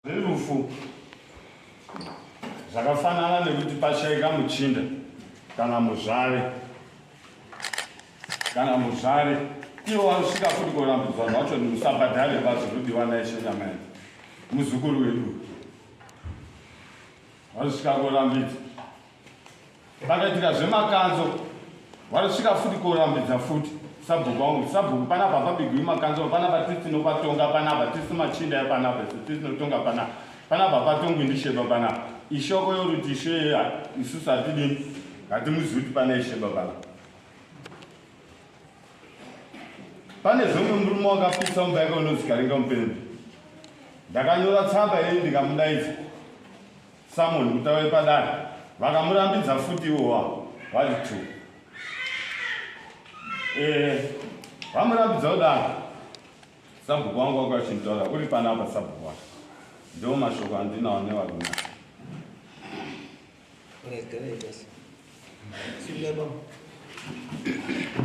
Rerufu zvakafanana nekuti pashaika muchinda kana muzvare kana muzvare iwo wanosvika futi kurambidzwa zvacho musabhadhare vazvinodiwa naishe nyama yedu muzukuru wedu vanosvika kurambidzwa Pakaitika zvemakanzo vanosvika futi korambidza futi sabhuku vangu sabhuku panapa pabigwi makanzo panapa tisi tinopatonga panapa tisi machinda epanapa isu tisi tinotonga panapa panapa patongwi ndisheba panapa ishoko yoruti isho yeya isusu hatidini hatimuzivi kuti pane isheba panapa pane zvomwe murume wakapisa mumba yake unozikaringa mupembe ndakanyora tsamba yei ndikamudaidza Samuel mutava wepadare vakamurambidza futi ivo vavo vari two eh, vamurambidza kudaro sabhuku wangu wako achinditaura uri panapa sabhuku wako ndiwo mashoko andinawo nevarume Thank you.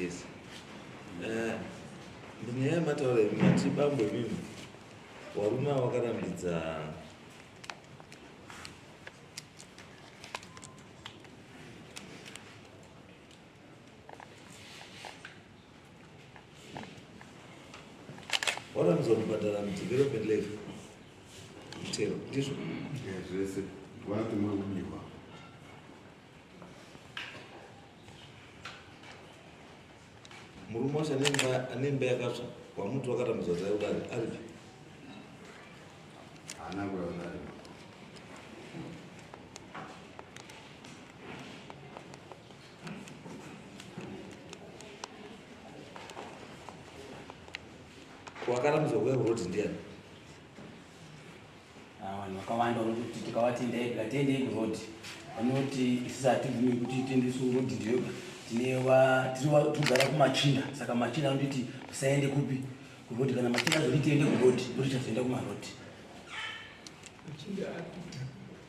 Yes. Eh, ndinyaya yemataura yemati bambo imimi warume wakarambidza waranzwa kubhadhara mudevelopment leve mutero ndizvo zvese vati mwakudiwa murume wacho ane mba yakatsva wamuti wakatambudzwa dzaudari aripi haana kuyaudari wakarambidzwa kuya kuroti ndiani ah, vanhu vakawanda vanokuti tikavati ndai tikatendei kuroti vanoti isisi hatibvumi kuti tendesi urodi ndiyoga tinewa tirikugara kumachinda saka machinda anotiti usaende kupi kuroti kana machinda azoti tiende kuroti ndoti chazoenda kumaroti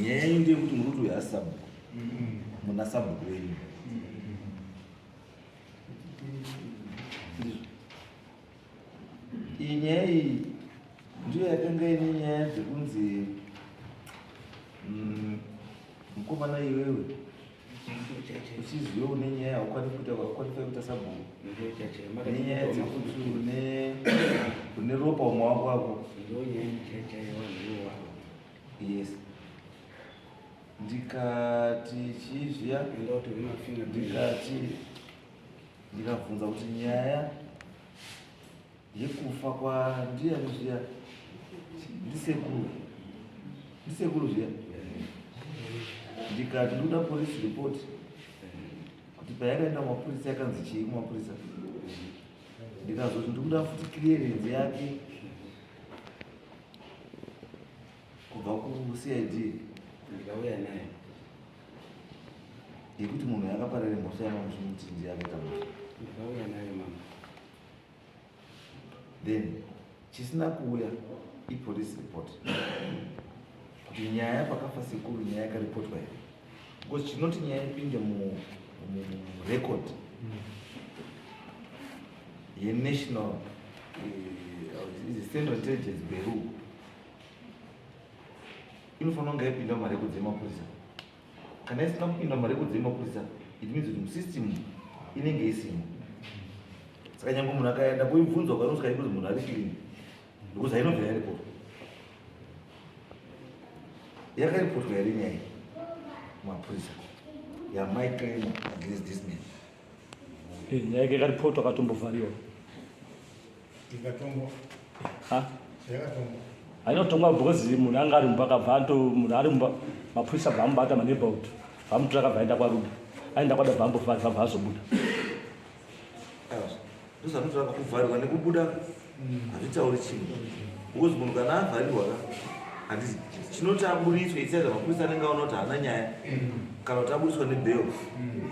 nyaya iyi ndeyekuti muri kuti uyo asi sabhuku muna sabhuku wenyu iyi nyaya iyi ndiyo yakanga ine nyaya dzekunzi mm, mukomana iwewe uchiziva une nyaya haukwanisi kuita kwakukwanisa kuita sabhuku nenyaya dzekuti une une ropa umawako wako yes ndikati chizviya ndikati ndikabvunza kuti nyaya yekufa kwandiani zviya ndisekuru ndisekuru zviya ndikati ndoda police report kuti payakaenda kumapurisa yakanzi chii kumapurisa ndikazoti ndikuda futi clearance yake kubva kucid ndikauya naye yekuti munhu yakaparare mhosva yamamusumuti ndiye akaita mhosva ndikauya naye mama then chisina kuuya ipolice report kuti nyaya pakafa sekuru nyaya yakaripotwa here because chinoti nyaya ipinde murecord mm. yenational eh, central intelligence beru inofanira kunge yaipinda mumarekodzi emapolisa kana isina kupinda mumarekodzi emapurisa it means kuti musystem inenge isimo saka nyange munhu akaenda kuibvunzwa kwanoskai kuti munhu ari clean because ainobva yaripotwa yakaripotwa yari nyaya mapurisa yamai claim against this man Eh, nyaya yake kari poto akatombovhariwa ikatongwa ha yakatongwa ainotongwa because munhu anga ari mumba akabva ato munhu ari mumba mapurisa bva amubata maneighborhood vamutora akabva aenda kwaruda aenda kwada bva ambovhari vabva azobuda ndozvanotaura kuvharirwa nekubuda hazvitauri chinhu because munhu kana avharirwa ka handisi chinoti aburitswe itsaida mapurisa anenge aona kuti haana nyaya kana kuti aburitswa nebel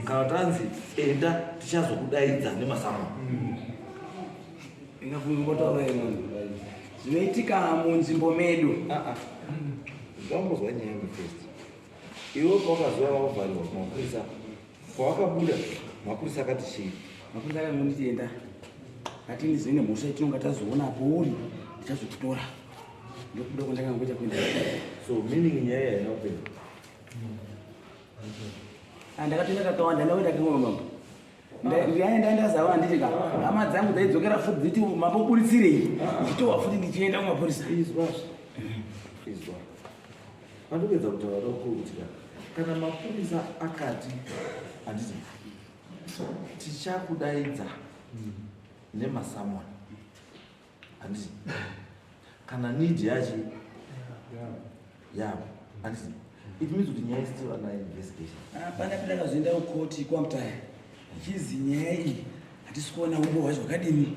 kana kuti anzi enda tichazokudaidza nemasamwa zvinoitika munzvimbo medu zvambozwa nyaya mufest iwe pakazuva vakuvharirwa kumapurisa Pawakabuda mapurisa akati chii? Mapurisa akangonditi enda ati ndizoine mhosva itinonga tazoona apo uri ndichazokutora ndokuda kwandakangoita kuenda so meaning nyaya yaina kupera ah, ndakatoenda kakawanda ndakuenda kangoma mambo ndiyane ndandazava handiti ka hama dzangu dzaidzokera futi dziti mamboburitsirei ndichitowa futi ndichienda kumapurisa Pandopedza kutaura ndokuru kuti ka kana mapurisa akati handiti tichakudaidza nemasamoni handiti kana need yacho yavo handiti it means kuti nyaya still under investigation hapana pita kazoenda kukoti kwamutaya chizi nyaya iyi hatisi kuona umbo hwacho hwakadini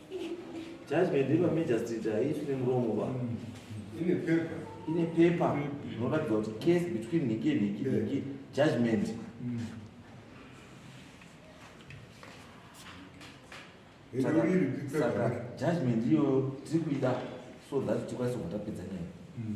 judgment ino magistrate haifi nemuromo va mm. ine paper ine paper inoratidza kuti case between nhiki nhiki nhiki judgment mm. saka judgment iyo tiri kuida so that tikwanise kutapedza nyaya mm.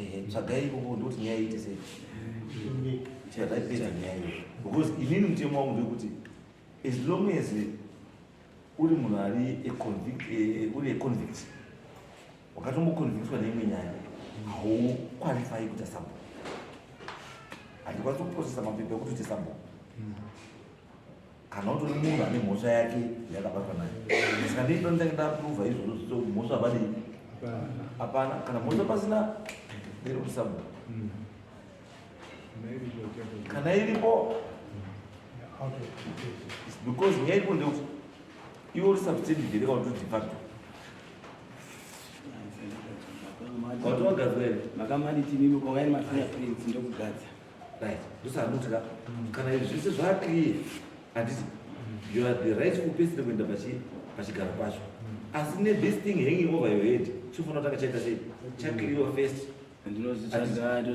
Eh, tsvagai ikoko ndokuti nyaya iite sei chataipedza nyaya iyo because inini mutemo wangu ndekuti as long as uri munhu ari eh, uri econvict wakatomboconvictwa neimwe nyaya haukwalifai kuita sambo handikwanisi kuprocesa mapepa ekuti uite sambo kana utori munhu ane mhosva yake yakabatwa nayo saka ndii ndonda ndaprova izvozvo zvito mhosva vadii hapana kana mhosva pasina ndiri kusabwa hmm. kana iripo because nyaya iripo ndeuti iwe uri substandard here kana kuti defacto wati wagadzwa here makamanitini ukauyani mafingerprints ndokugadza right ndosaanotira kana izvi zvese zvakriye handiti you are the right kupesire kuenda pachigaro pacho asi ne this thing hanging over your head chofanira kutanga chaita sei chakriwa first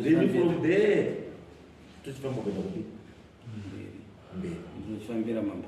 then from there tochifamba kuenda kupi mberi ndinochifambira mambo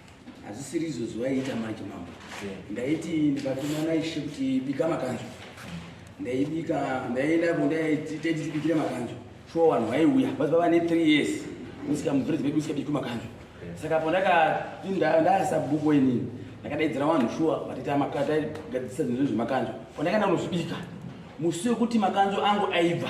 hazvisiri izvo zvivaiita manje mambo ndaiti ndikatumana ishe kuti bika makanjo ndaibika ndaienda ko ndaititibikire makanjo shuwa vanhu vaiuya vaziva vane three years usika muvhirezi vedu usika biki makanjo saka po ndakapindandasa bhuku inini ndakadaidzira vanhu shuwa vatitaigadzisa zvinhu zvemakanjo po ndakaenda kunozvibika musi wekuti makanjo angu aibva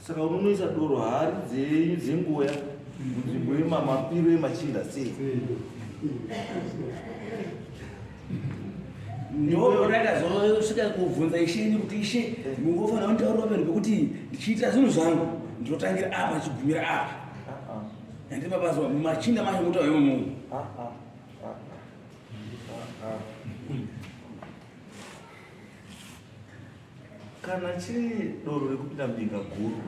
Saka unonoisa doro hari dzenyu dzenguya munzvimbo yemamapiro emachinda sei? ndozvakazoosvika kubvunza ishe ini kuti ishe mungofanira kunditaurira pamene pekuti ndichiitira zvinhu zvangu ndinotangira apa ndichigumira apa ende mabazo machinda macho muta yomu kana chiri doro rekupinda mbinga guru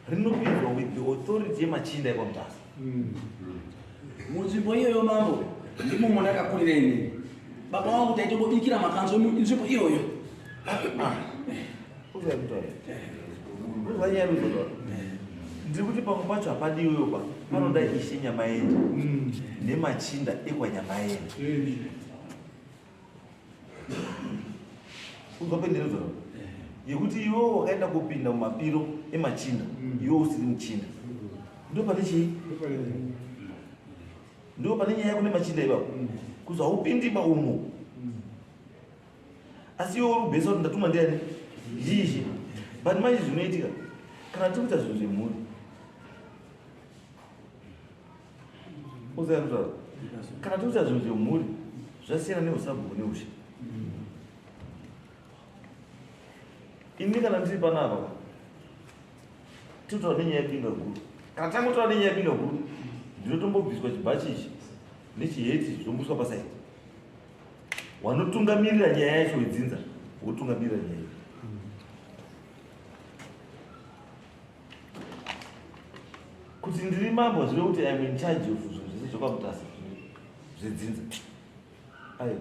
rinopindwa with the authority yemachinda ekwamutasa hmm. munzvimbo iyoyo mambo ndimo mona akakurira inini baba wangu taitobobikira makanzwa inzvimbo iyoyo ah, ah. ndiri kuti pamwe pacho hapadiwewo pa panoda mm. ishe nyamaende mm. nemachinda ekwanyamaende kunzwa penderedzo yekuti iwewo wakaenda kupinda mumapiro emachinda mm. iwewo usiri muchinda ndo pane chii ndo pane nyaya yako nemachinda ivapo kuzi haupindi maumo asi iwe uri kubhesa kuti ndatumwa ndiani zhizhi but manje zvinoitika kana tiri kuita zvinhu zvemhuri uzayakutaa kana tiri kuita zvinhu zvemhuri zvasiyana neusabhuku neushe ini kana ndiri panapa tiri kutaura nenyaya yepinga guru kana tangotaura nenyaya yepinga guru ndinotombobviswa chibhachi ichi nechiheti zvombuswa pasaidi wanotungamirira nyaya yacho wedzinza wotungamirira nyaya yacho kuti ndiri mambo zvive kuti im in charge of zvinhu zvese zvokwamutasa zvedzinza aiwa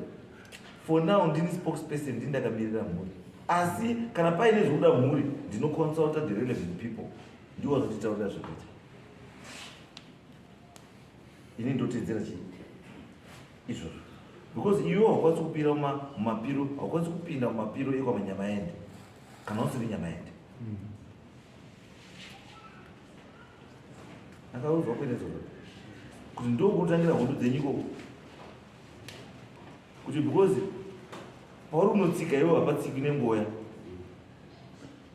for now ndini spokesperson ndini ndakamirira mhuri asi kana paine zvinoda mhuri ndinoconsulta the relevant people ndiwo vanotitaurira zvekuita ini ndotedzera chii izvozvo because iwe haukwanisi kupira mumapiro haukwanisi kupinda mumapiro ekwamanyama ende kana usiri nyama ende hmm. akauzwa kuita zvoa kuti ndokutangira hondo dzenyu ikoko kuti because pauri unotsika ivo hapatsiki nengoya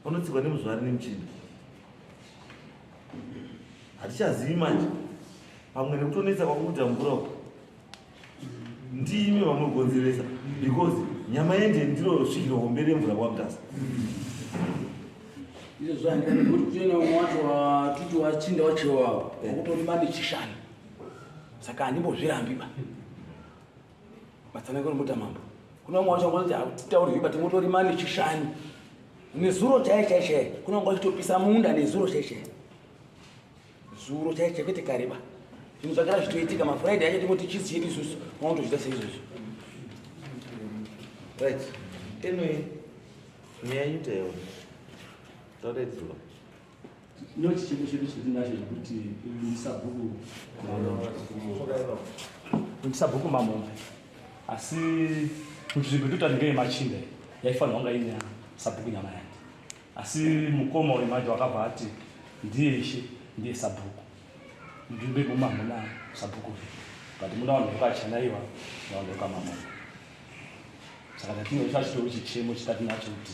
unotsikwa nemuzvari nemuchini hatichazivi manje pamwe nekutonetsa kwakuita mvura uku ndiimi vamugonzeresa because nyama yende ndiro svikiro hombe remvura kwamutasa izvo zvaendera nekuti kutoenda umwe wacho watuti wachinda wachewawo wakutori mandi chishani saka handimbozvirambiba matsanangano muta mambo kuna vamwe vacho vanoti hatitaurwi but motori mani chishani nezuro chaiye chaiye chaiye kuna vamwe vachitopisa munda nezuro chaiye chaiye zuro chaiye chaiye kwete kareba zvinhu zvagara zvitoitika mafriday acho tingoti chisi chedu isusu vanotozvita seizvozvo right anyway nyaya yutaewa taura idzuro No chicheko chedu chatinacho chekuti ndisabhuku ndisabhuku mamombe asi nzvimbo totati ngeye machinda yaifanirwa nga ine sabhuku nyama yake asi mukoma uyu manje wakabva ati ndiye ishe ndiye sabhuku nzvimbo yekumwe hamuna sabhuku but muna vanhu vekachanaiwa navanhu vekamamombe saka tatinge chachitori chichemo chitati nacho kuti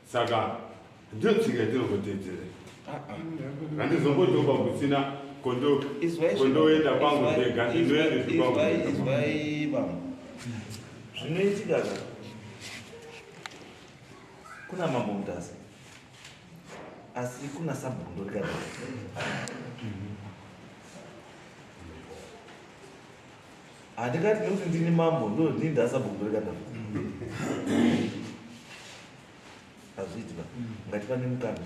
saka ndiyo tsika yatinongotedzera handizombotoba kusina kondoenda kwangu ndega ndinoendezvaiva zvinoitika zva kuna mambo mutasa asi kuna sabhundo rikadai handingati nekuti ndini mambo ndo ndini ndasabomboreka navo hazviiti ba ngati pane mukana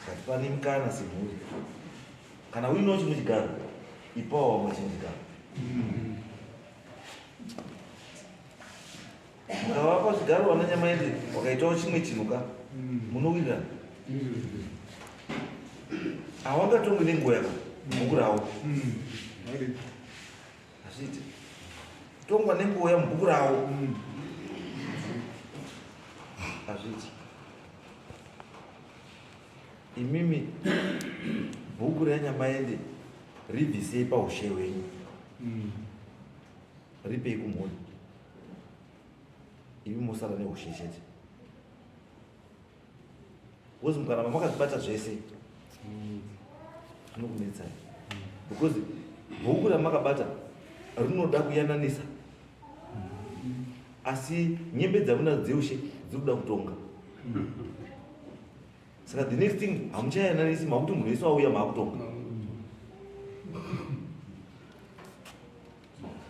ngati pane mukana semhuri kana uinawo chimwe chigaro ipawo wamwe chimwe chigaro Mukavapa zvigaro vana Nyamaende wakaitawo chimwe chinhu ka munowirirana. Hawangatongwe nenguva yako mukurawo. Hazviite. Tongwa nenguva yamubhuku rawo. Hazviite. Imimi bhuku renyamaende ribvisei paushe hwenyu. ripei kumhuri imi mosara neushe chete bcause mukaramba makazvibata zvese zvinokunetsai because bhuku ramakabata rinoda kuyananisa asi nyembe dzamunadzo dzeushe dziri kuda kutonga saka the next thing hamuchayananisi makuti munhu wese wauya maakutonga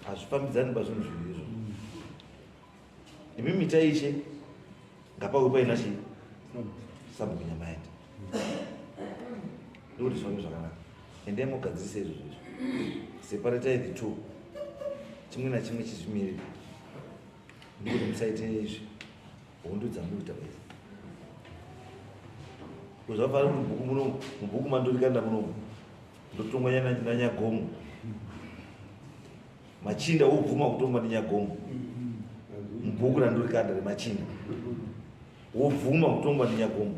hazvifambidzani pazvinhu zviviri izvo imi mita ishe ngapauve paina chii sabhuku nyama yaita ndokuti zvifambi zvakanaka endai mogadzirisa izvo zvizvo separatai the two chimwe nachimwe chizvimiriri ndikuti musaite izvi Hondo dzamuri takuita. Kuzvafana mubhuku muno mubhuku mandorikanda muno. Ndotongwa nyana nyanyagomo. Machinda wobvuma kutongwa nenyagomo. Mubhuku randorikanda remachinda. Wobvuma kutongwa nenyagomo.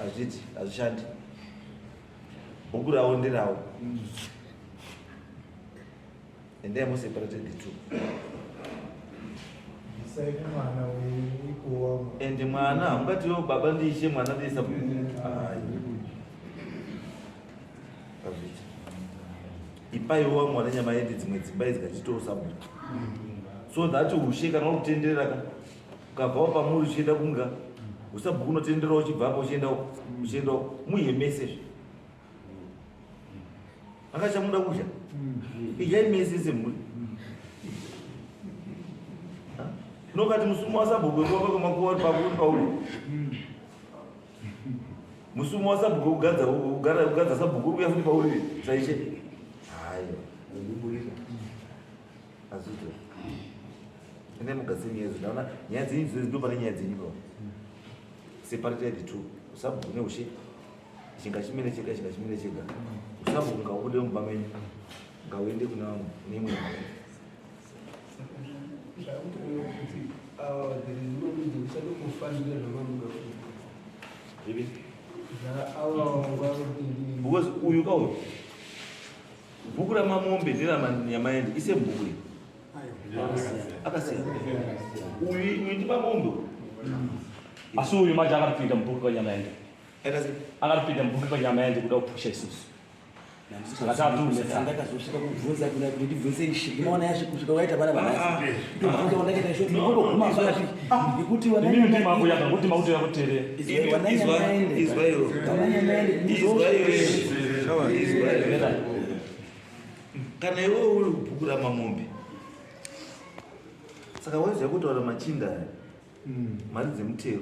Azviti azvishandi. Bhuku rawo ndirawo. And then we separated the two. And mwana hamungati yo baba ndiishe mwana ndiisa ipaiwa mwana nyama yende dzimwe dzimba idzi kachitoo sabhuku so that ushe kana uri kutenderera ka ukabvawo pamuri uchienda kunga usabhuku unotenderera uchibvapo uchienda uchienda muhemesezve akachamuda kudya idyai mese semhuri nokati musumo wasabhuku wekuwaka kwemakuva uri pakuri pauri musumo wasabhuku wekugadza sabhuku uri kuya futi pauri zvaishe hayo azvito ende mugadzire nyaya idzo ndaona nyaya dzenyu dzinozi ndo pane nyaya dzenyu ipapo separate the two usabhuku neushe chinga chimene chega chinga chimene chega usambo kunga ubude mumba menyu nga uende kuna nemwe because uyu ka uyu bhuku ramamombe nderamanyamaende ise bhuku iri akasiyana uyu uyu ndimamombe asi uyu maja akapinda mubhuku kanyamaende akatipinda mubhuki panyama yaende kuda kupusha isusu ndakazosvika kubvunza kuna kuti ndibvunze ishi ndimaona yasvi kusvika waita vana vanasindibvunza wandakaita isho ndinoguma vapi ndikuti wananyakuti mautoya kutere kana iwe uri kubhukura mamombe saka waiziva kutaura machinda aya mari dzemutero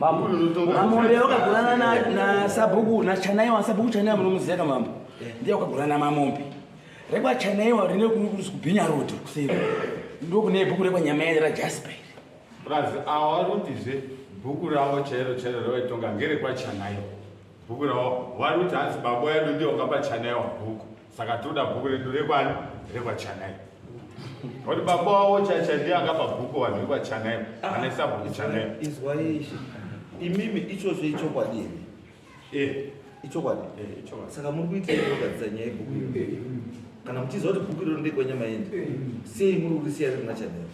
Mambo, mambo ndiye wakagurana na na sabhuku na chanaiwa sabhuku chanaiwa munomuziva ka mambo. Eh. Ndiye wakagurana mamombe. Rekwa chanaiwa rine kurukurusi kubhinya road kuseri. Ndiko kune bhuku rekwa nyama yake ra Jasper. Plus awa ruti zve bhuku ravo chairo chairo ravaitonga ngerekwa chanaiwa. Bhuku ravo vari kuti hanzi baba yedu ndiye wakapa chanaiwa bhuku. saka toda bhuku redu rekwani rekwachanai kuti baba wavo chacha ndiye akapa bhuku vanhu vekwachanai vanaisa bhuku chanai izwai ishe imimi ichozvo ichokwadi here Eh, ichokwadi eh, ichokwadi. saka muri kuita kugadzisa nyaya yebhuku iro kana muchiziva kuti bhuku iro ndekwenyama yendi sei muri kurisiya riri machanera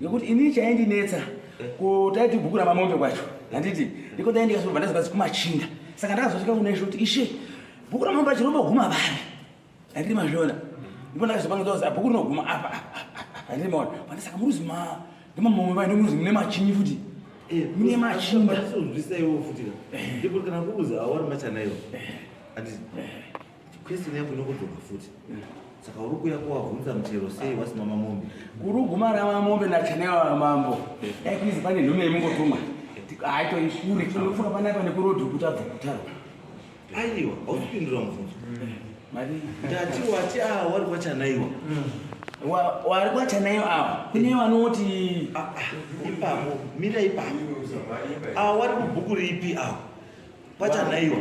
nekuti ini chaindinetsa kutaiti bhuku ramamombe kwacho handiti ndiko ndaindikasova ndazokazi kumachinda saka ndakazosvika kunaisho kuti ishe bhuku ramamombe acho rinoguma vari handiti mazviona ndipo ndakazopangizaoza bhuku rinoguma apa handiti maona pane saka muruzi ma ndimamombe vai ndomuruzi mune machinyi futi mune machinda ndizvisaiwo futi ndipo kana kuuza awari machanayo handiti Question yako inokudzoka futi. Saka uri kuya kwa hunza mchero sei wasi mama mombe. Guru guma ra mama mombe na channel wa mambo. Eh please pane nhume yemungo tuma. Hayi to ishuri kuno funa pana pana ku road kuta kutaro. Aiwa, ausipindura mfunzo. Mm. Mari. Ndati wati ah wari kwa chanaiwa. Mm. Wa wari kwa chanaiwa awa. Kune vanoti ah, ah, ipapo mira ipapo. Ah wari ku buku ripi awa. kwachanaiwa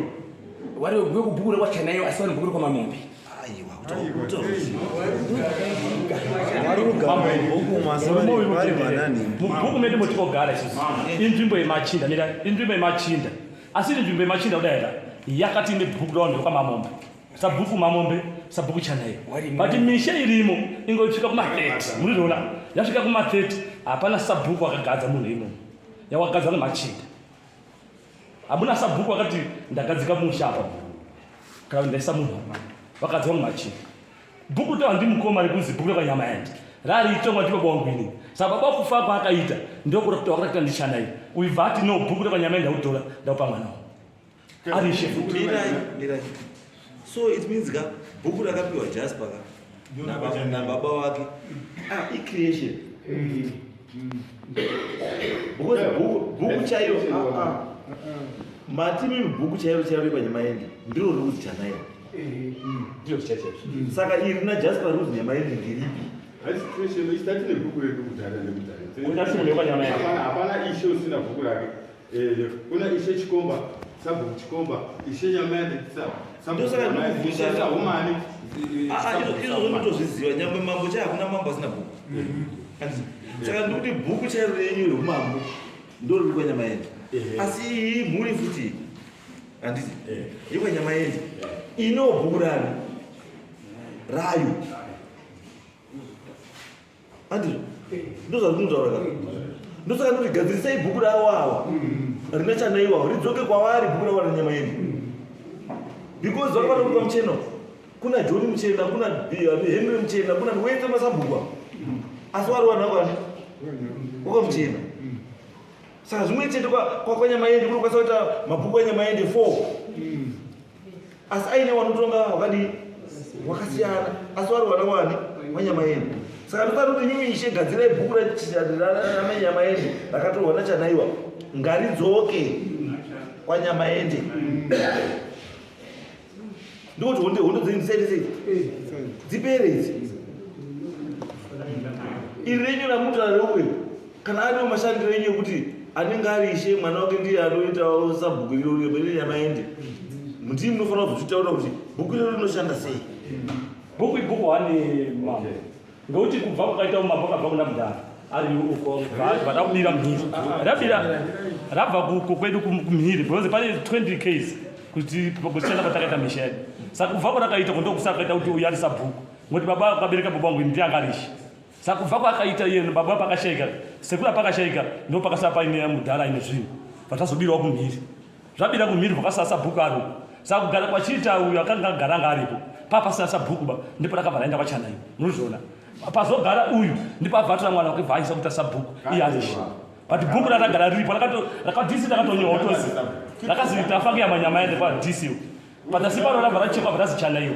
wari wekuve kubhukure kwachanaiwa asi wari bhukure kwamamombe mubhuku medu motinogara isusu inzvimbo yemachinda mira inzvimbo yemachinda asi iri nzvimbo yemachinda kudaira yakati ine bhuku raunhu kwamamombe sabhuku mamombe sabhuku chanaiyo but misha irimo ingosvika kuma30 murizviona yasvika kuma30 hapana sabhuku wakagadza munhu imomo yawakagadzwa nemachinda hamuna sabhuku vakati ndagadzika musha apa kana kuti ndaisa munhu apa vakadzi vangu vachii bhuku tawa ndi mukoma rekunzi bhuku rekanyama yandi rariitongwa ndi baba wangu ini saka baba kufa kwaakaita ndokura kuti wakatakuita ndichanai uibva ati no bhuku rekanyama yandi ndautora ndaupa mwana wangu arishe futi so it means ka bhuku rakapiwa jasper ka nababa wake ah, icreation mm. because bhuku chaiyo ah, ah. mati mimi bhuku chairo chairo repanyamaendi ndiro riri kuti chanairo eh, mm. ndiro zvichachaizvo mm. saka iri na jasper ruzi nyamaendi ndiripi hapana ishe usina bhuku rake Eh, kuna ishe chikomba sabhuku chikomba ishe nyamani saumani izvo zvinotozviziva nyangwe mambo chai hakuna mambo asina bhuku mm-hmm. saka ndikuti bhuku chairo renyu reumambo ndoriri kwanyama yende eh. asi iyi mhuri futi handiti eh. yekwanyama yende ino bhuku rani rayo andizvo ndozvazvinotaura ka ndosaka ndoti gadzirisai bhuku ravo ava rine chanaiwawo ridzoke kwavari bhuku ravo renyama yedu because vanga vatokupa muchena uyu. kuna john muchena kuna eh, henry muchena kuna wese masabhuku ava asi wari wanhu akwani wakamuchena saka zvimwe chete kwa- kwa- kwanyama yende kunokwanisa kuita mabhuku anyama yende four asi aine wanotonga wakadii wakasiyana asi wari wana wani wanyama yenu saka ndofana kuti nyimi ishe gadzirai bhuku ranyama yende rakatorwa nachanaiwa ngaridzoke kwanyama yende ndikuti honde hondo dzenyu dzisaite sei dzipere idzi iri renyu ramutora reuyo kana ariwo mashandiro enyu ekuti anenge ari ishe mwana wake ndiye anoitawo sabhuku iro riri yamaende mutii munofanira kuzvitaura kuti bhuku iro rinoshanda sei bhuku ibhuku hane mambo ngekuti kubva kukaita umambo kabva kuna mudhara ari uko vadakubira mhiri rabira rabva kuko kwedu kumhiri because pane 20 case kuti kushanda kwatakaita misha yedu saka kubva kwarakaita kundokusakaita kuti uyari sabhuku ngokuti baba kabereka baba wangu ndiye angarishi Saka kubva kwaakaita iye baba pakashaika sekura pakashaika ndo pakasara paine mudhara ine zvinhu vatazobirawo kumhiri zvabira kumhiri vakasara sabhuku ari uko saka kugara kwachiita uyo akanga agara anga aripo papasina sabhuku ba ndipo rakabva raenda kwachanai munozviona pazogara uyu ndipo abva atora mwana wake bva aisa kuita sabhuku iye arishi but bhuku rakagara riripo rakadisi rakatonyewa utozi rakaziita fange yamanyama yende kwadisiwo patasi pano rabva rachekwa bva razichanaiwo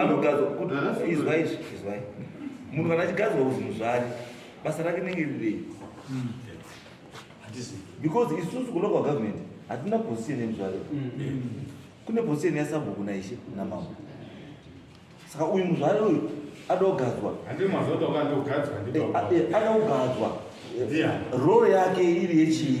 anogadzwa kuti izwa izvi izwai munhu kana achigadzwa kuzi muzvari basa rake nenge rirei hmm. because isusu kulocal government hatina position yemuzvari hmm. hmm. kune position yasabhuku naishe namambo saka uyu muzvari uyu adogadzwa adogadzwa role yake iri yechii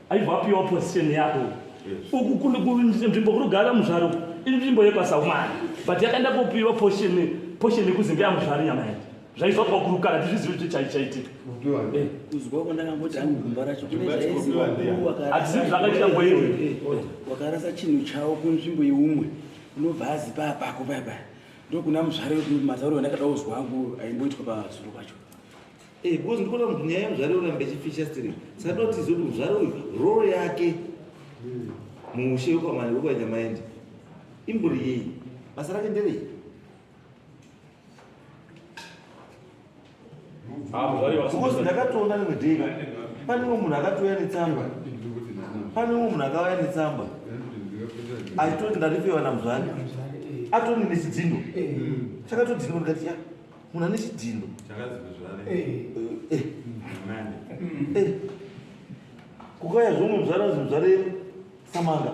aivapiwa position yako uku kunzvimbo kurugara muzvaro inzvimbo yekwasaumana but yakaenda kopiwa position position yekuzinga yamuzvaro nyama yacho zvaiva pakurukana tizvizivi kuti chai chaitika eh. kuzwa kwandakamboti hangu gumba racho kuneaizivi zvakaitika ngoiwe eh, wakarasa chinhu chavo kunzvimbo yeumwe unobva azi paya pako paya paya ndokuna muzvare mazariro andakada kuzwa angu aimboitwa pazuro pacho Eh, because ndikuona kuti nyaya yemuzvare yoramba ichifisha stiri saka ndoda kuti tizive kuti muzvare uyu role yake muushe wekwamani wekwanyamaindi imbori yei basa rake nderei Ah, muzvare because wasimba. ndakatoona rimwe day pane umwe munhu akatouya netsamba pane umwe munhu akauya netsamba achitoti ndaripiwa namuzvare atoni nechidzindo chakatodhindwa ndikati ya munhu ane chidhino kukaya zvomwe muzvara zvimuzvare samanga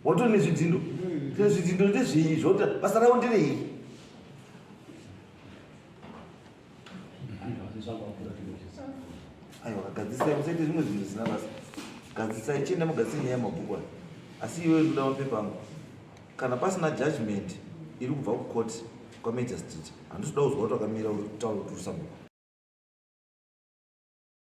wato nezvidhindo tine zvidhindo ndezvei zvota basa ravo nderei aiwa gadzisai musaite zvimwe zvinhu zvisina basa gadzisai chienda mugadzise nyaya yemabhuku ayo asi iyoyo ndoda mapepa angu Kana pasina judgment iri kubva kucourt kwamagistrate handisi kuda kuzwa kuti wakamira uri kutaura kuti uri sabhuku.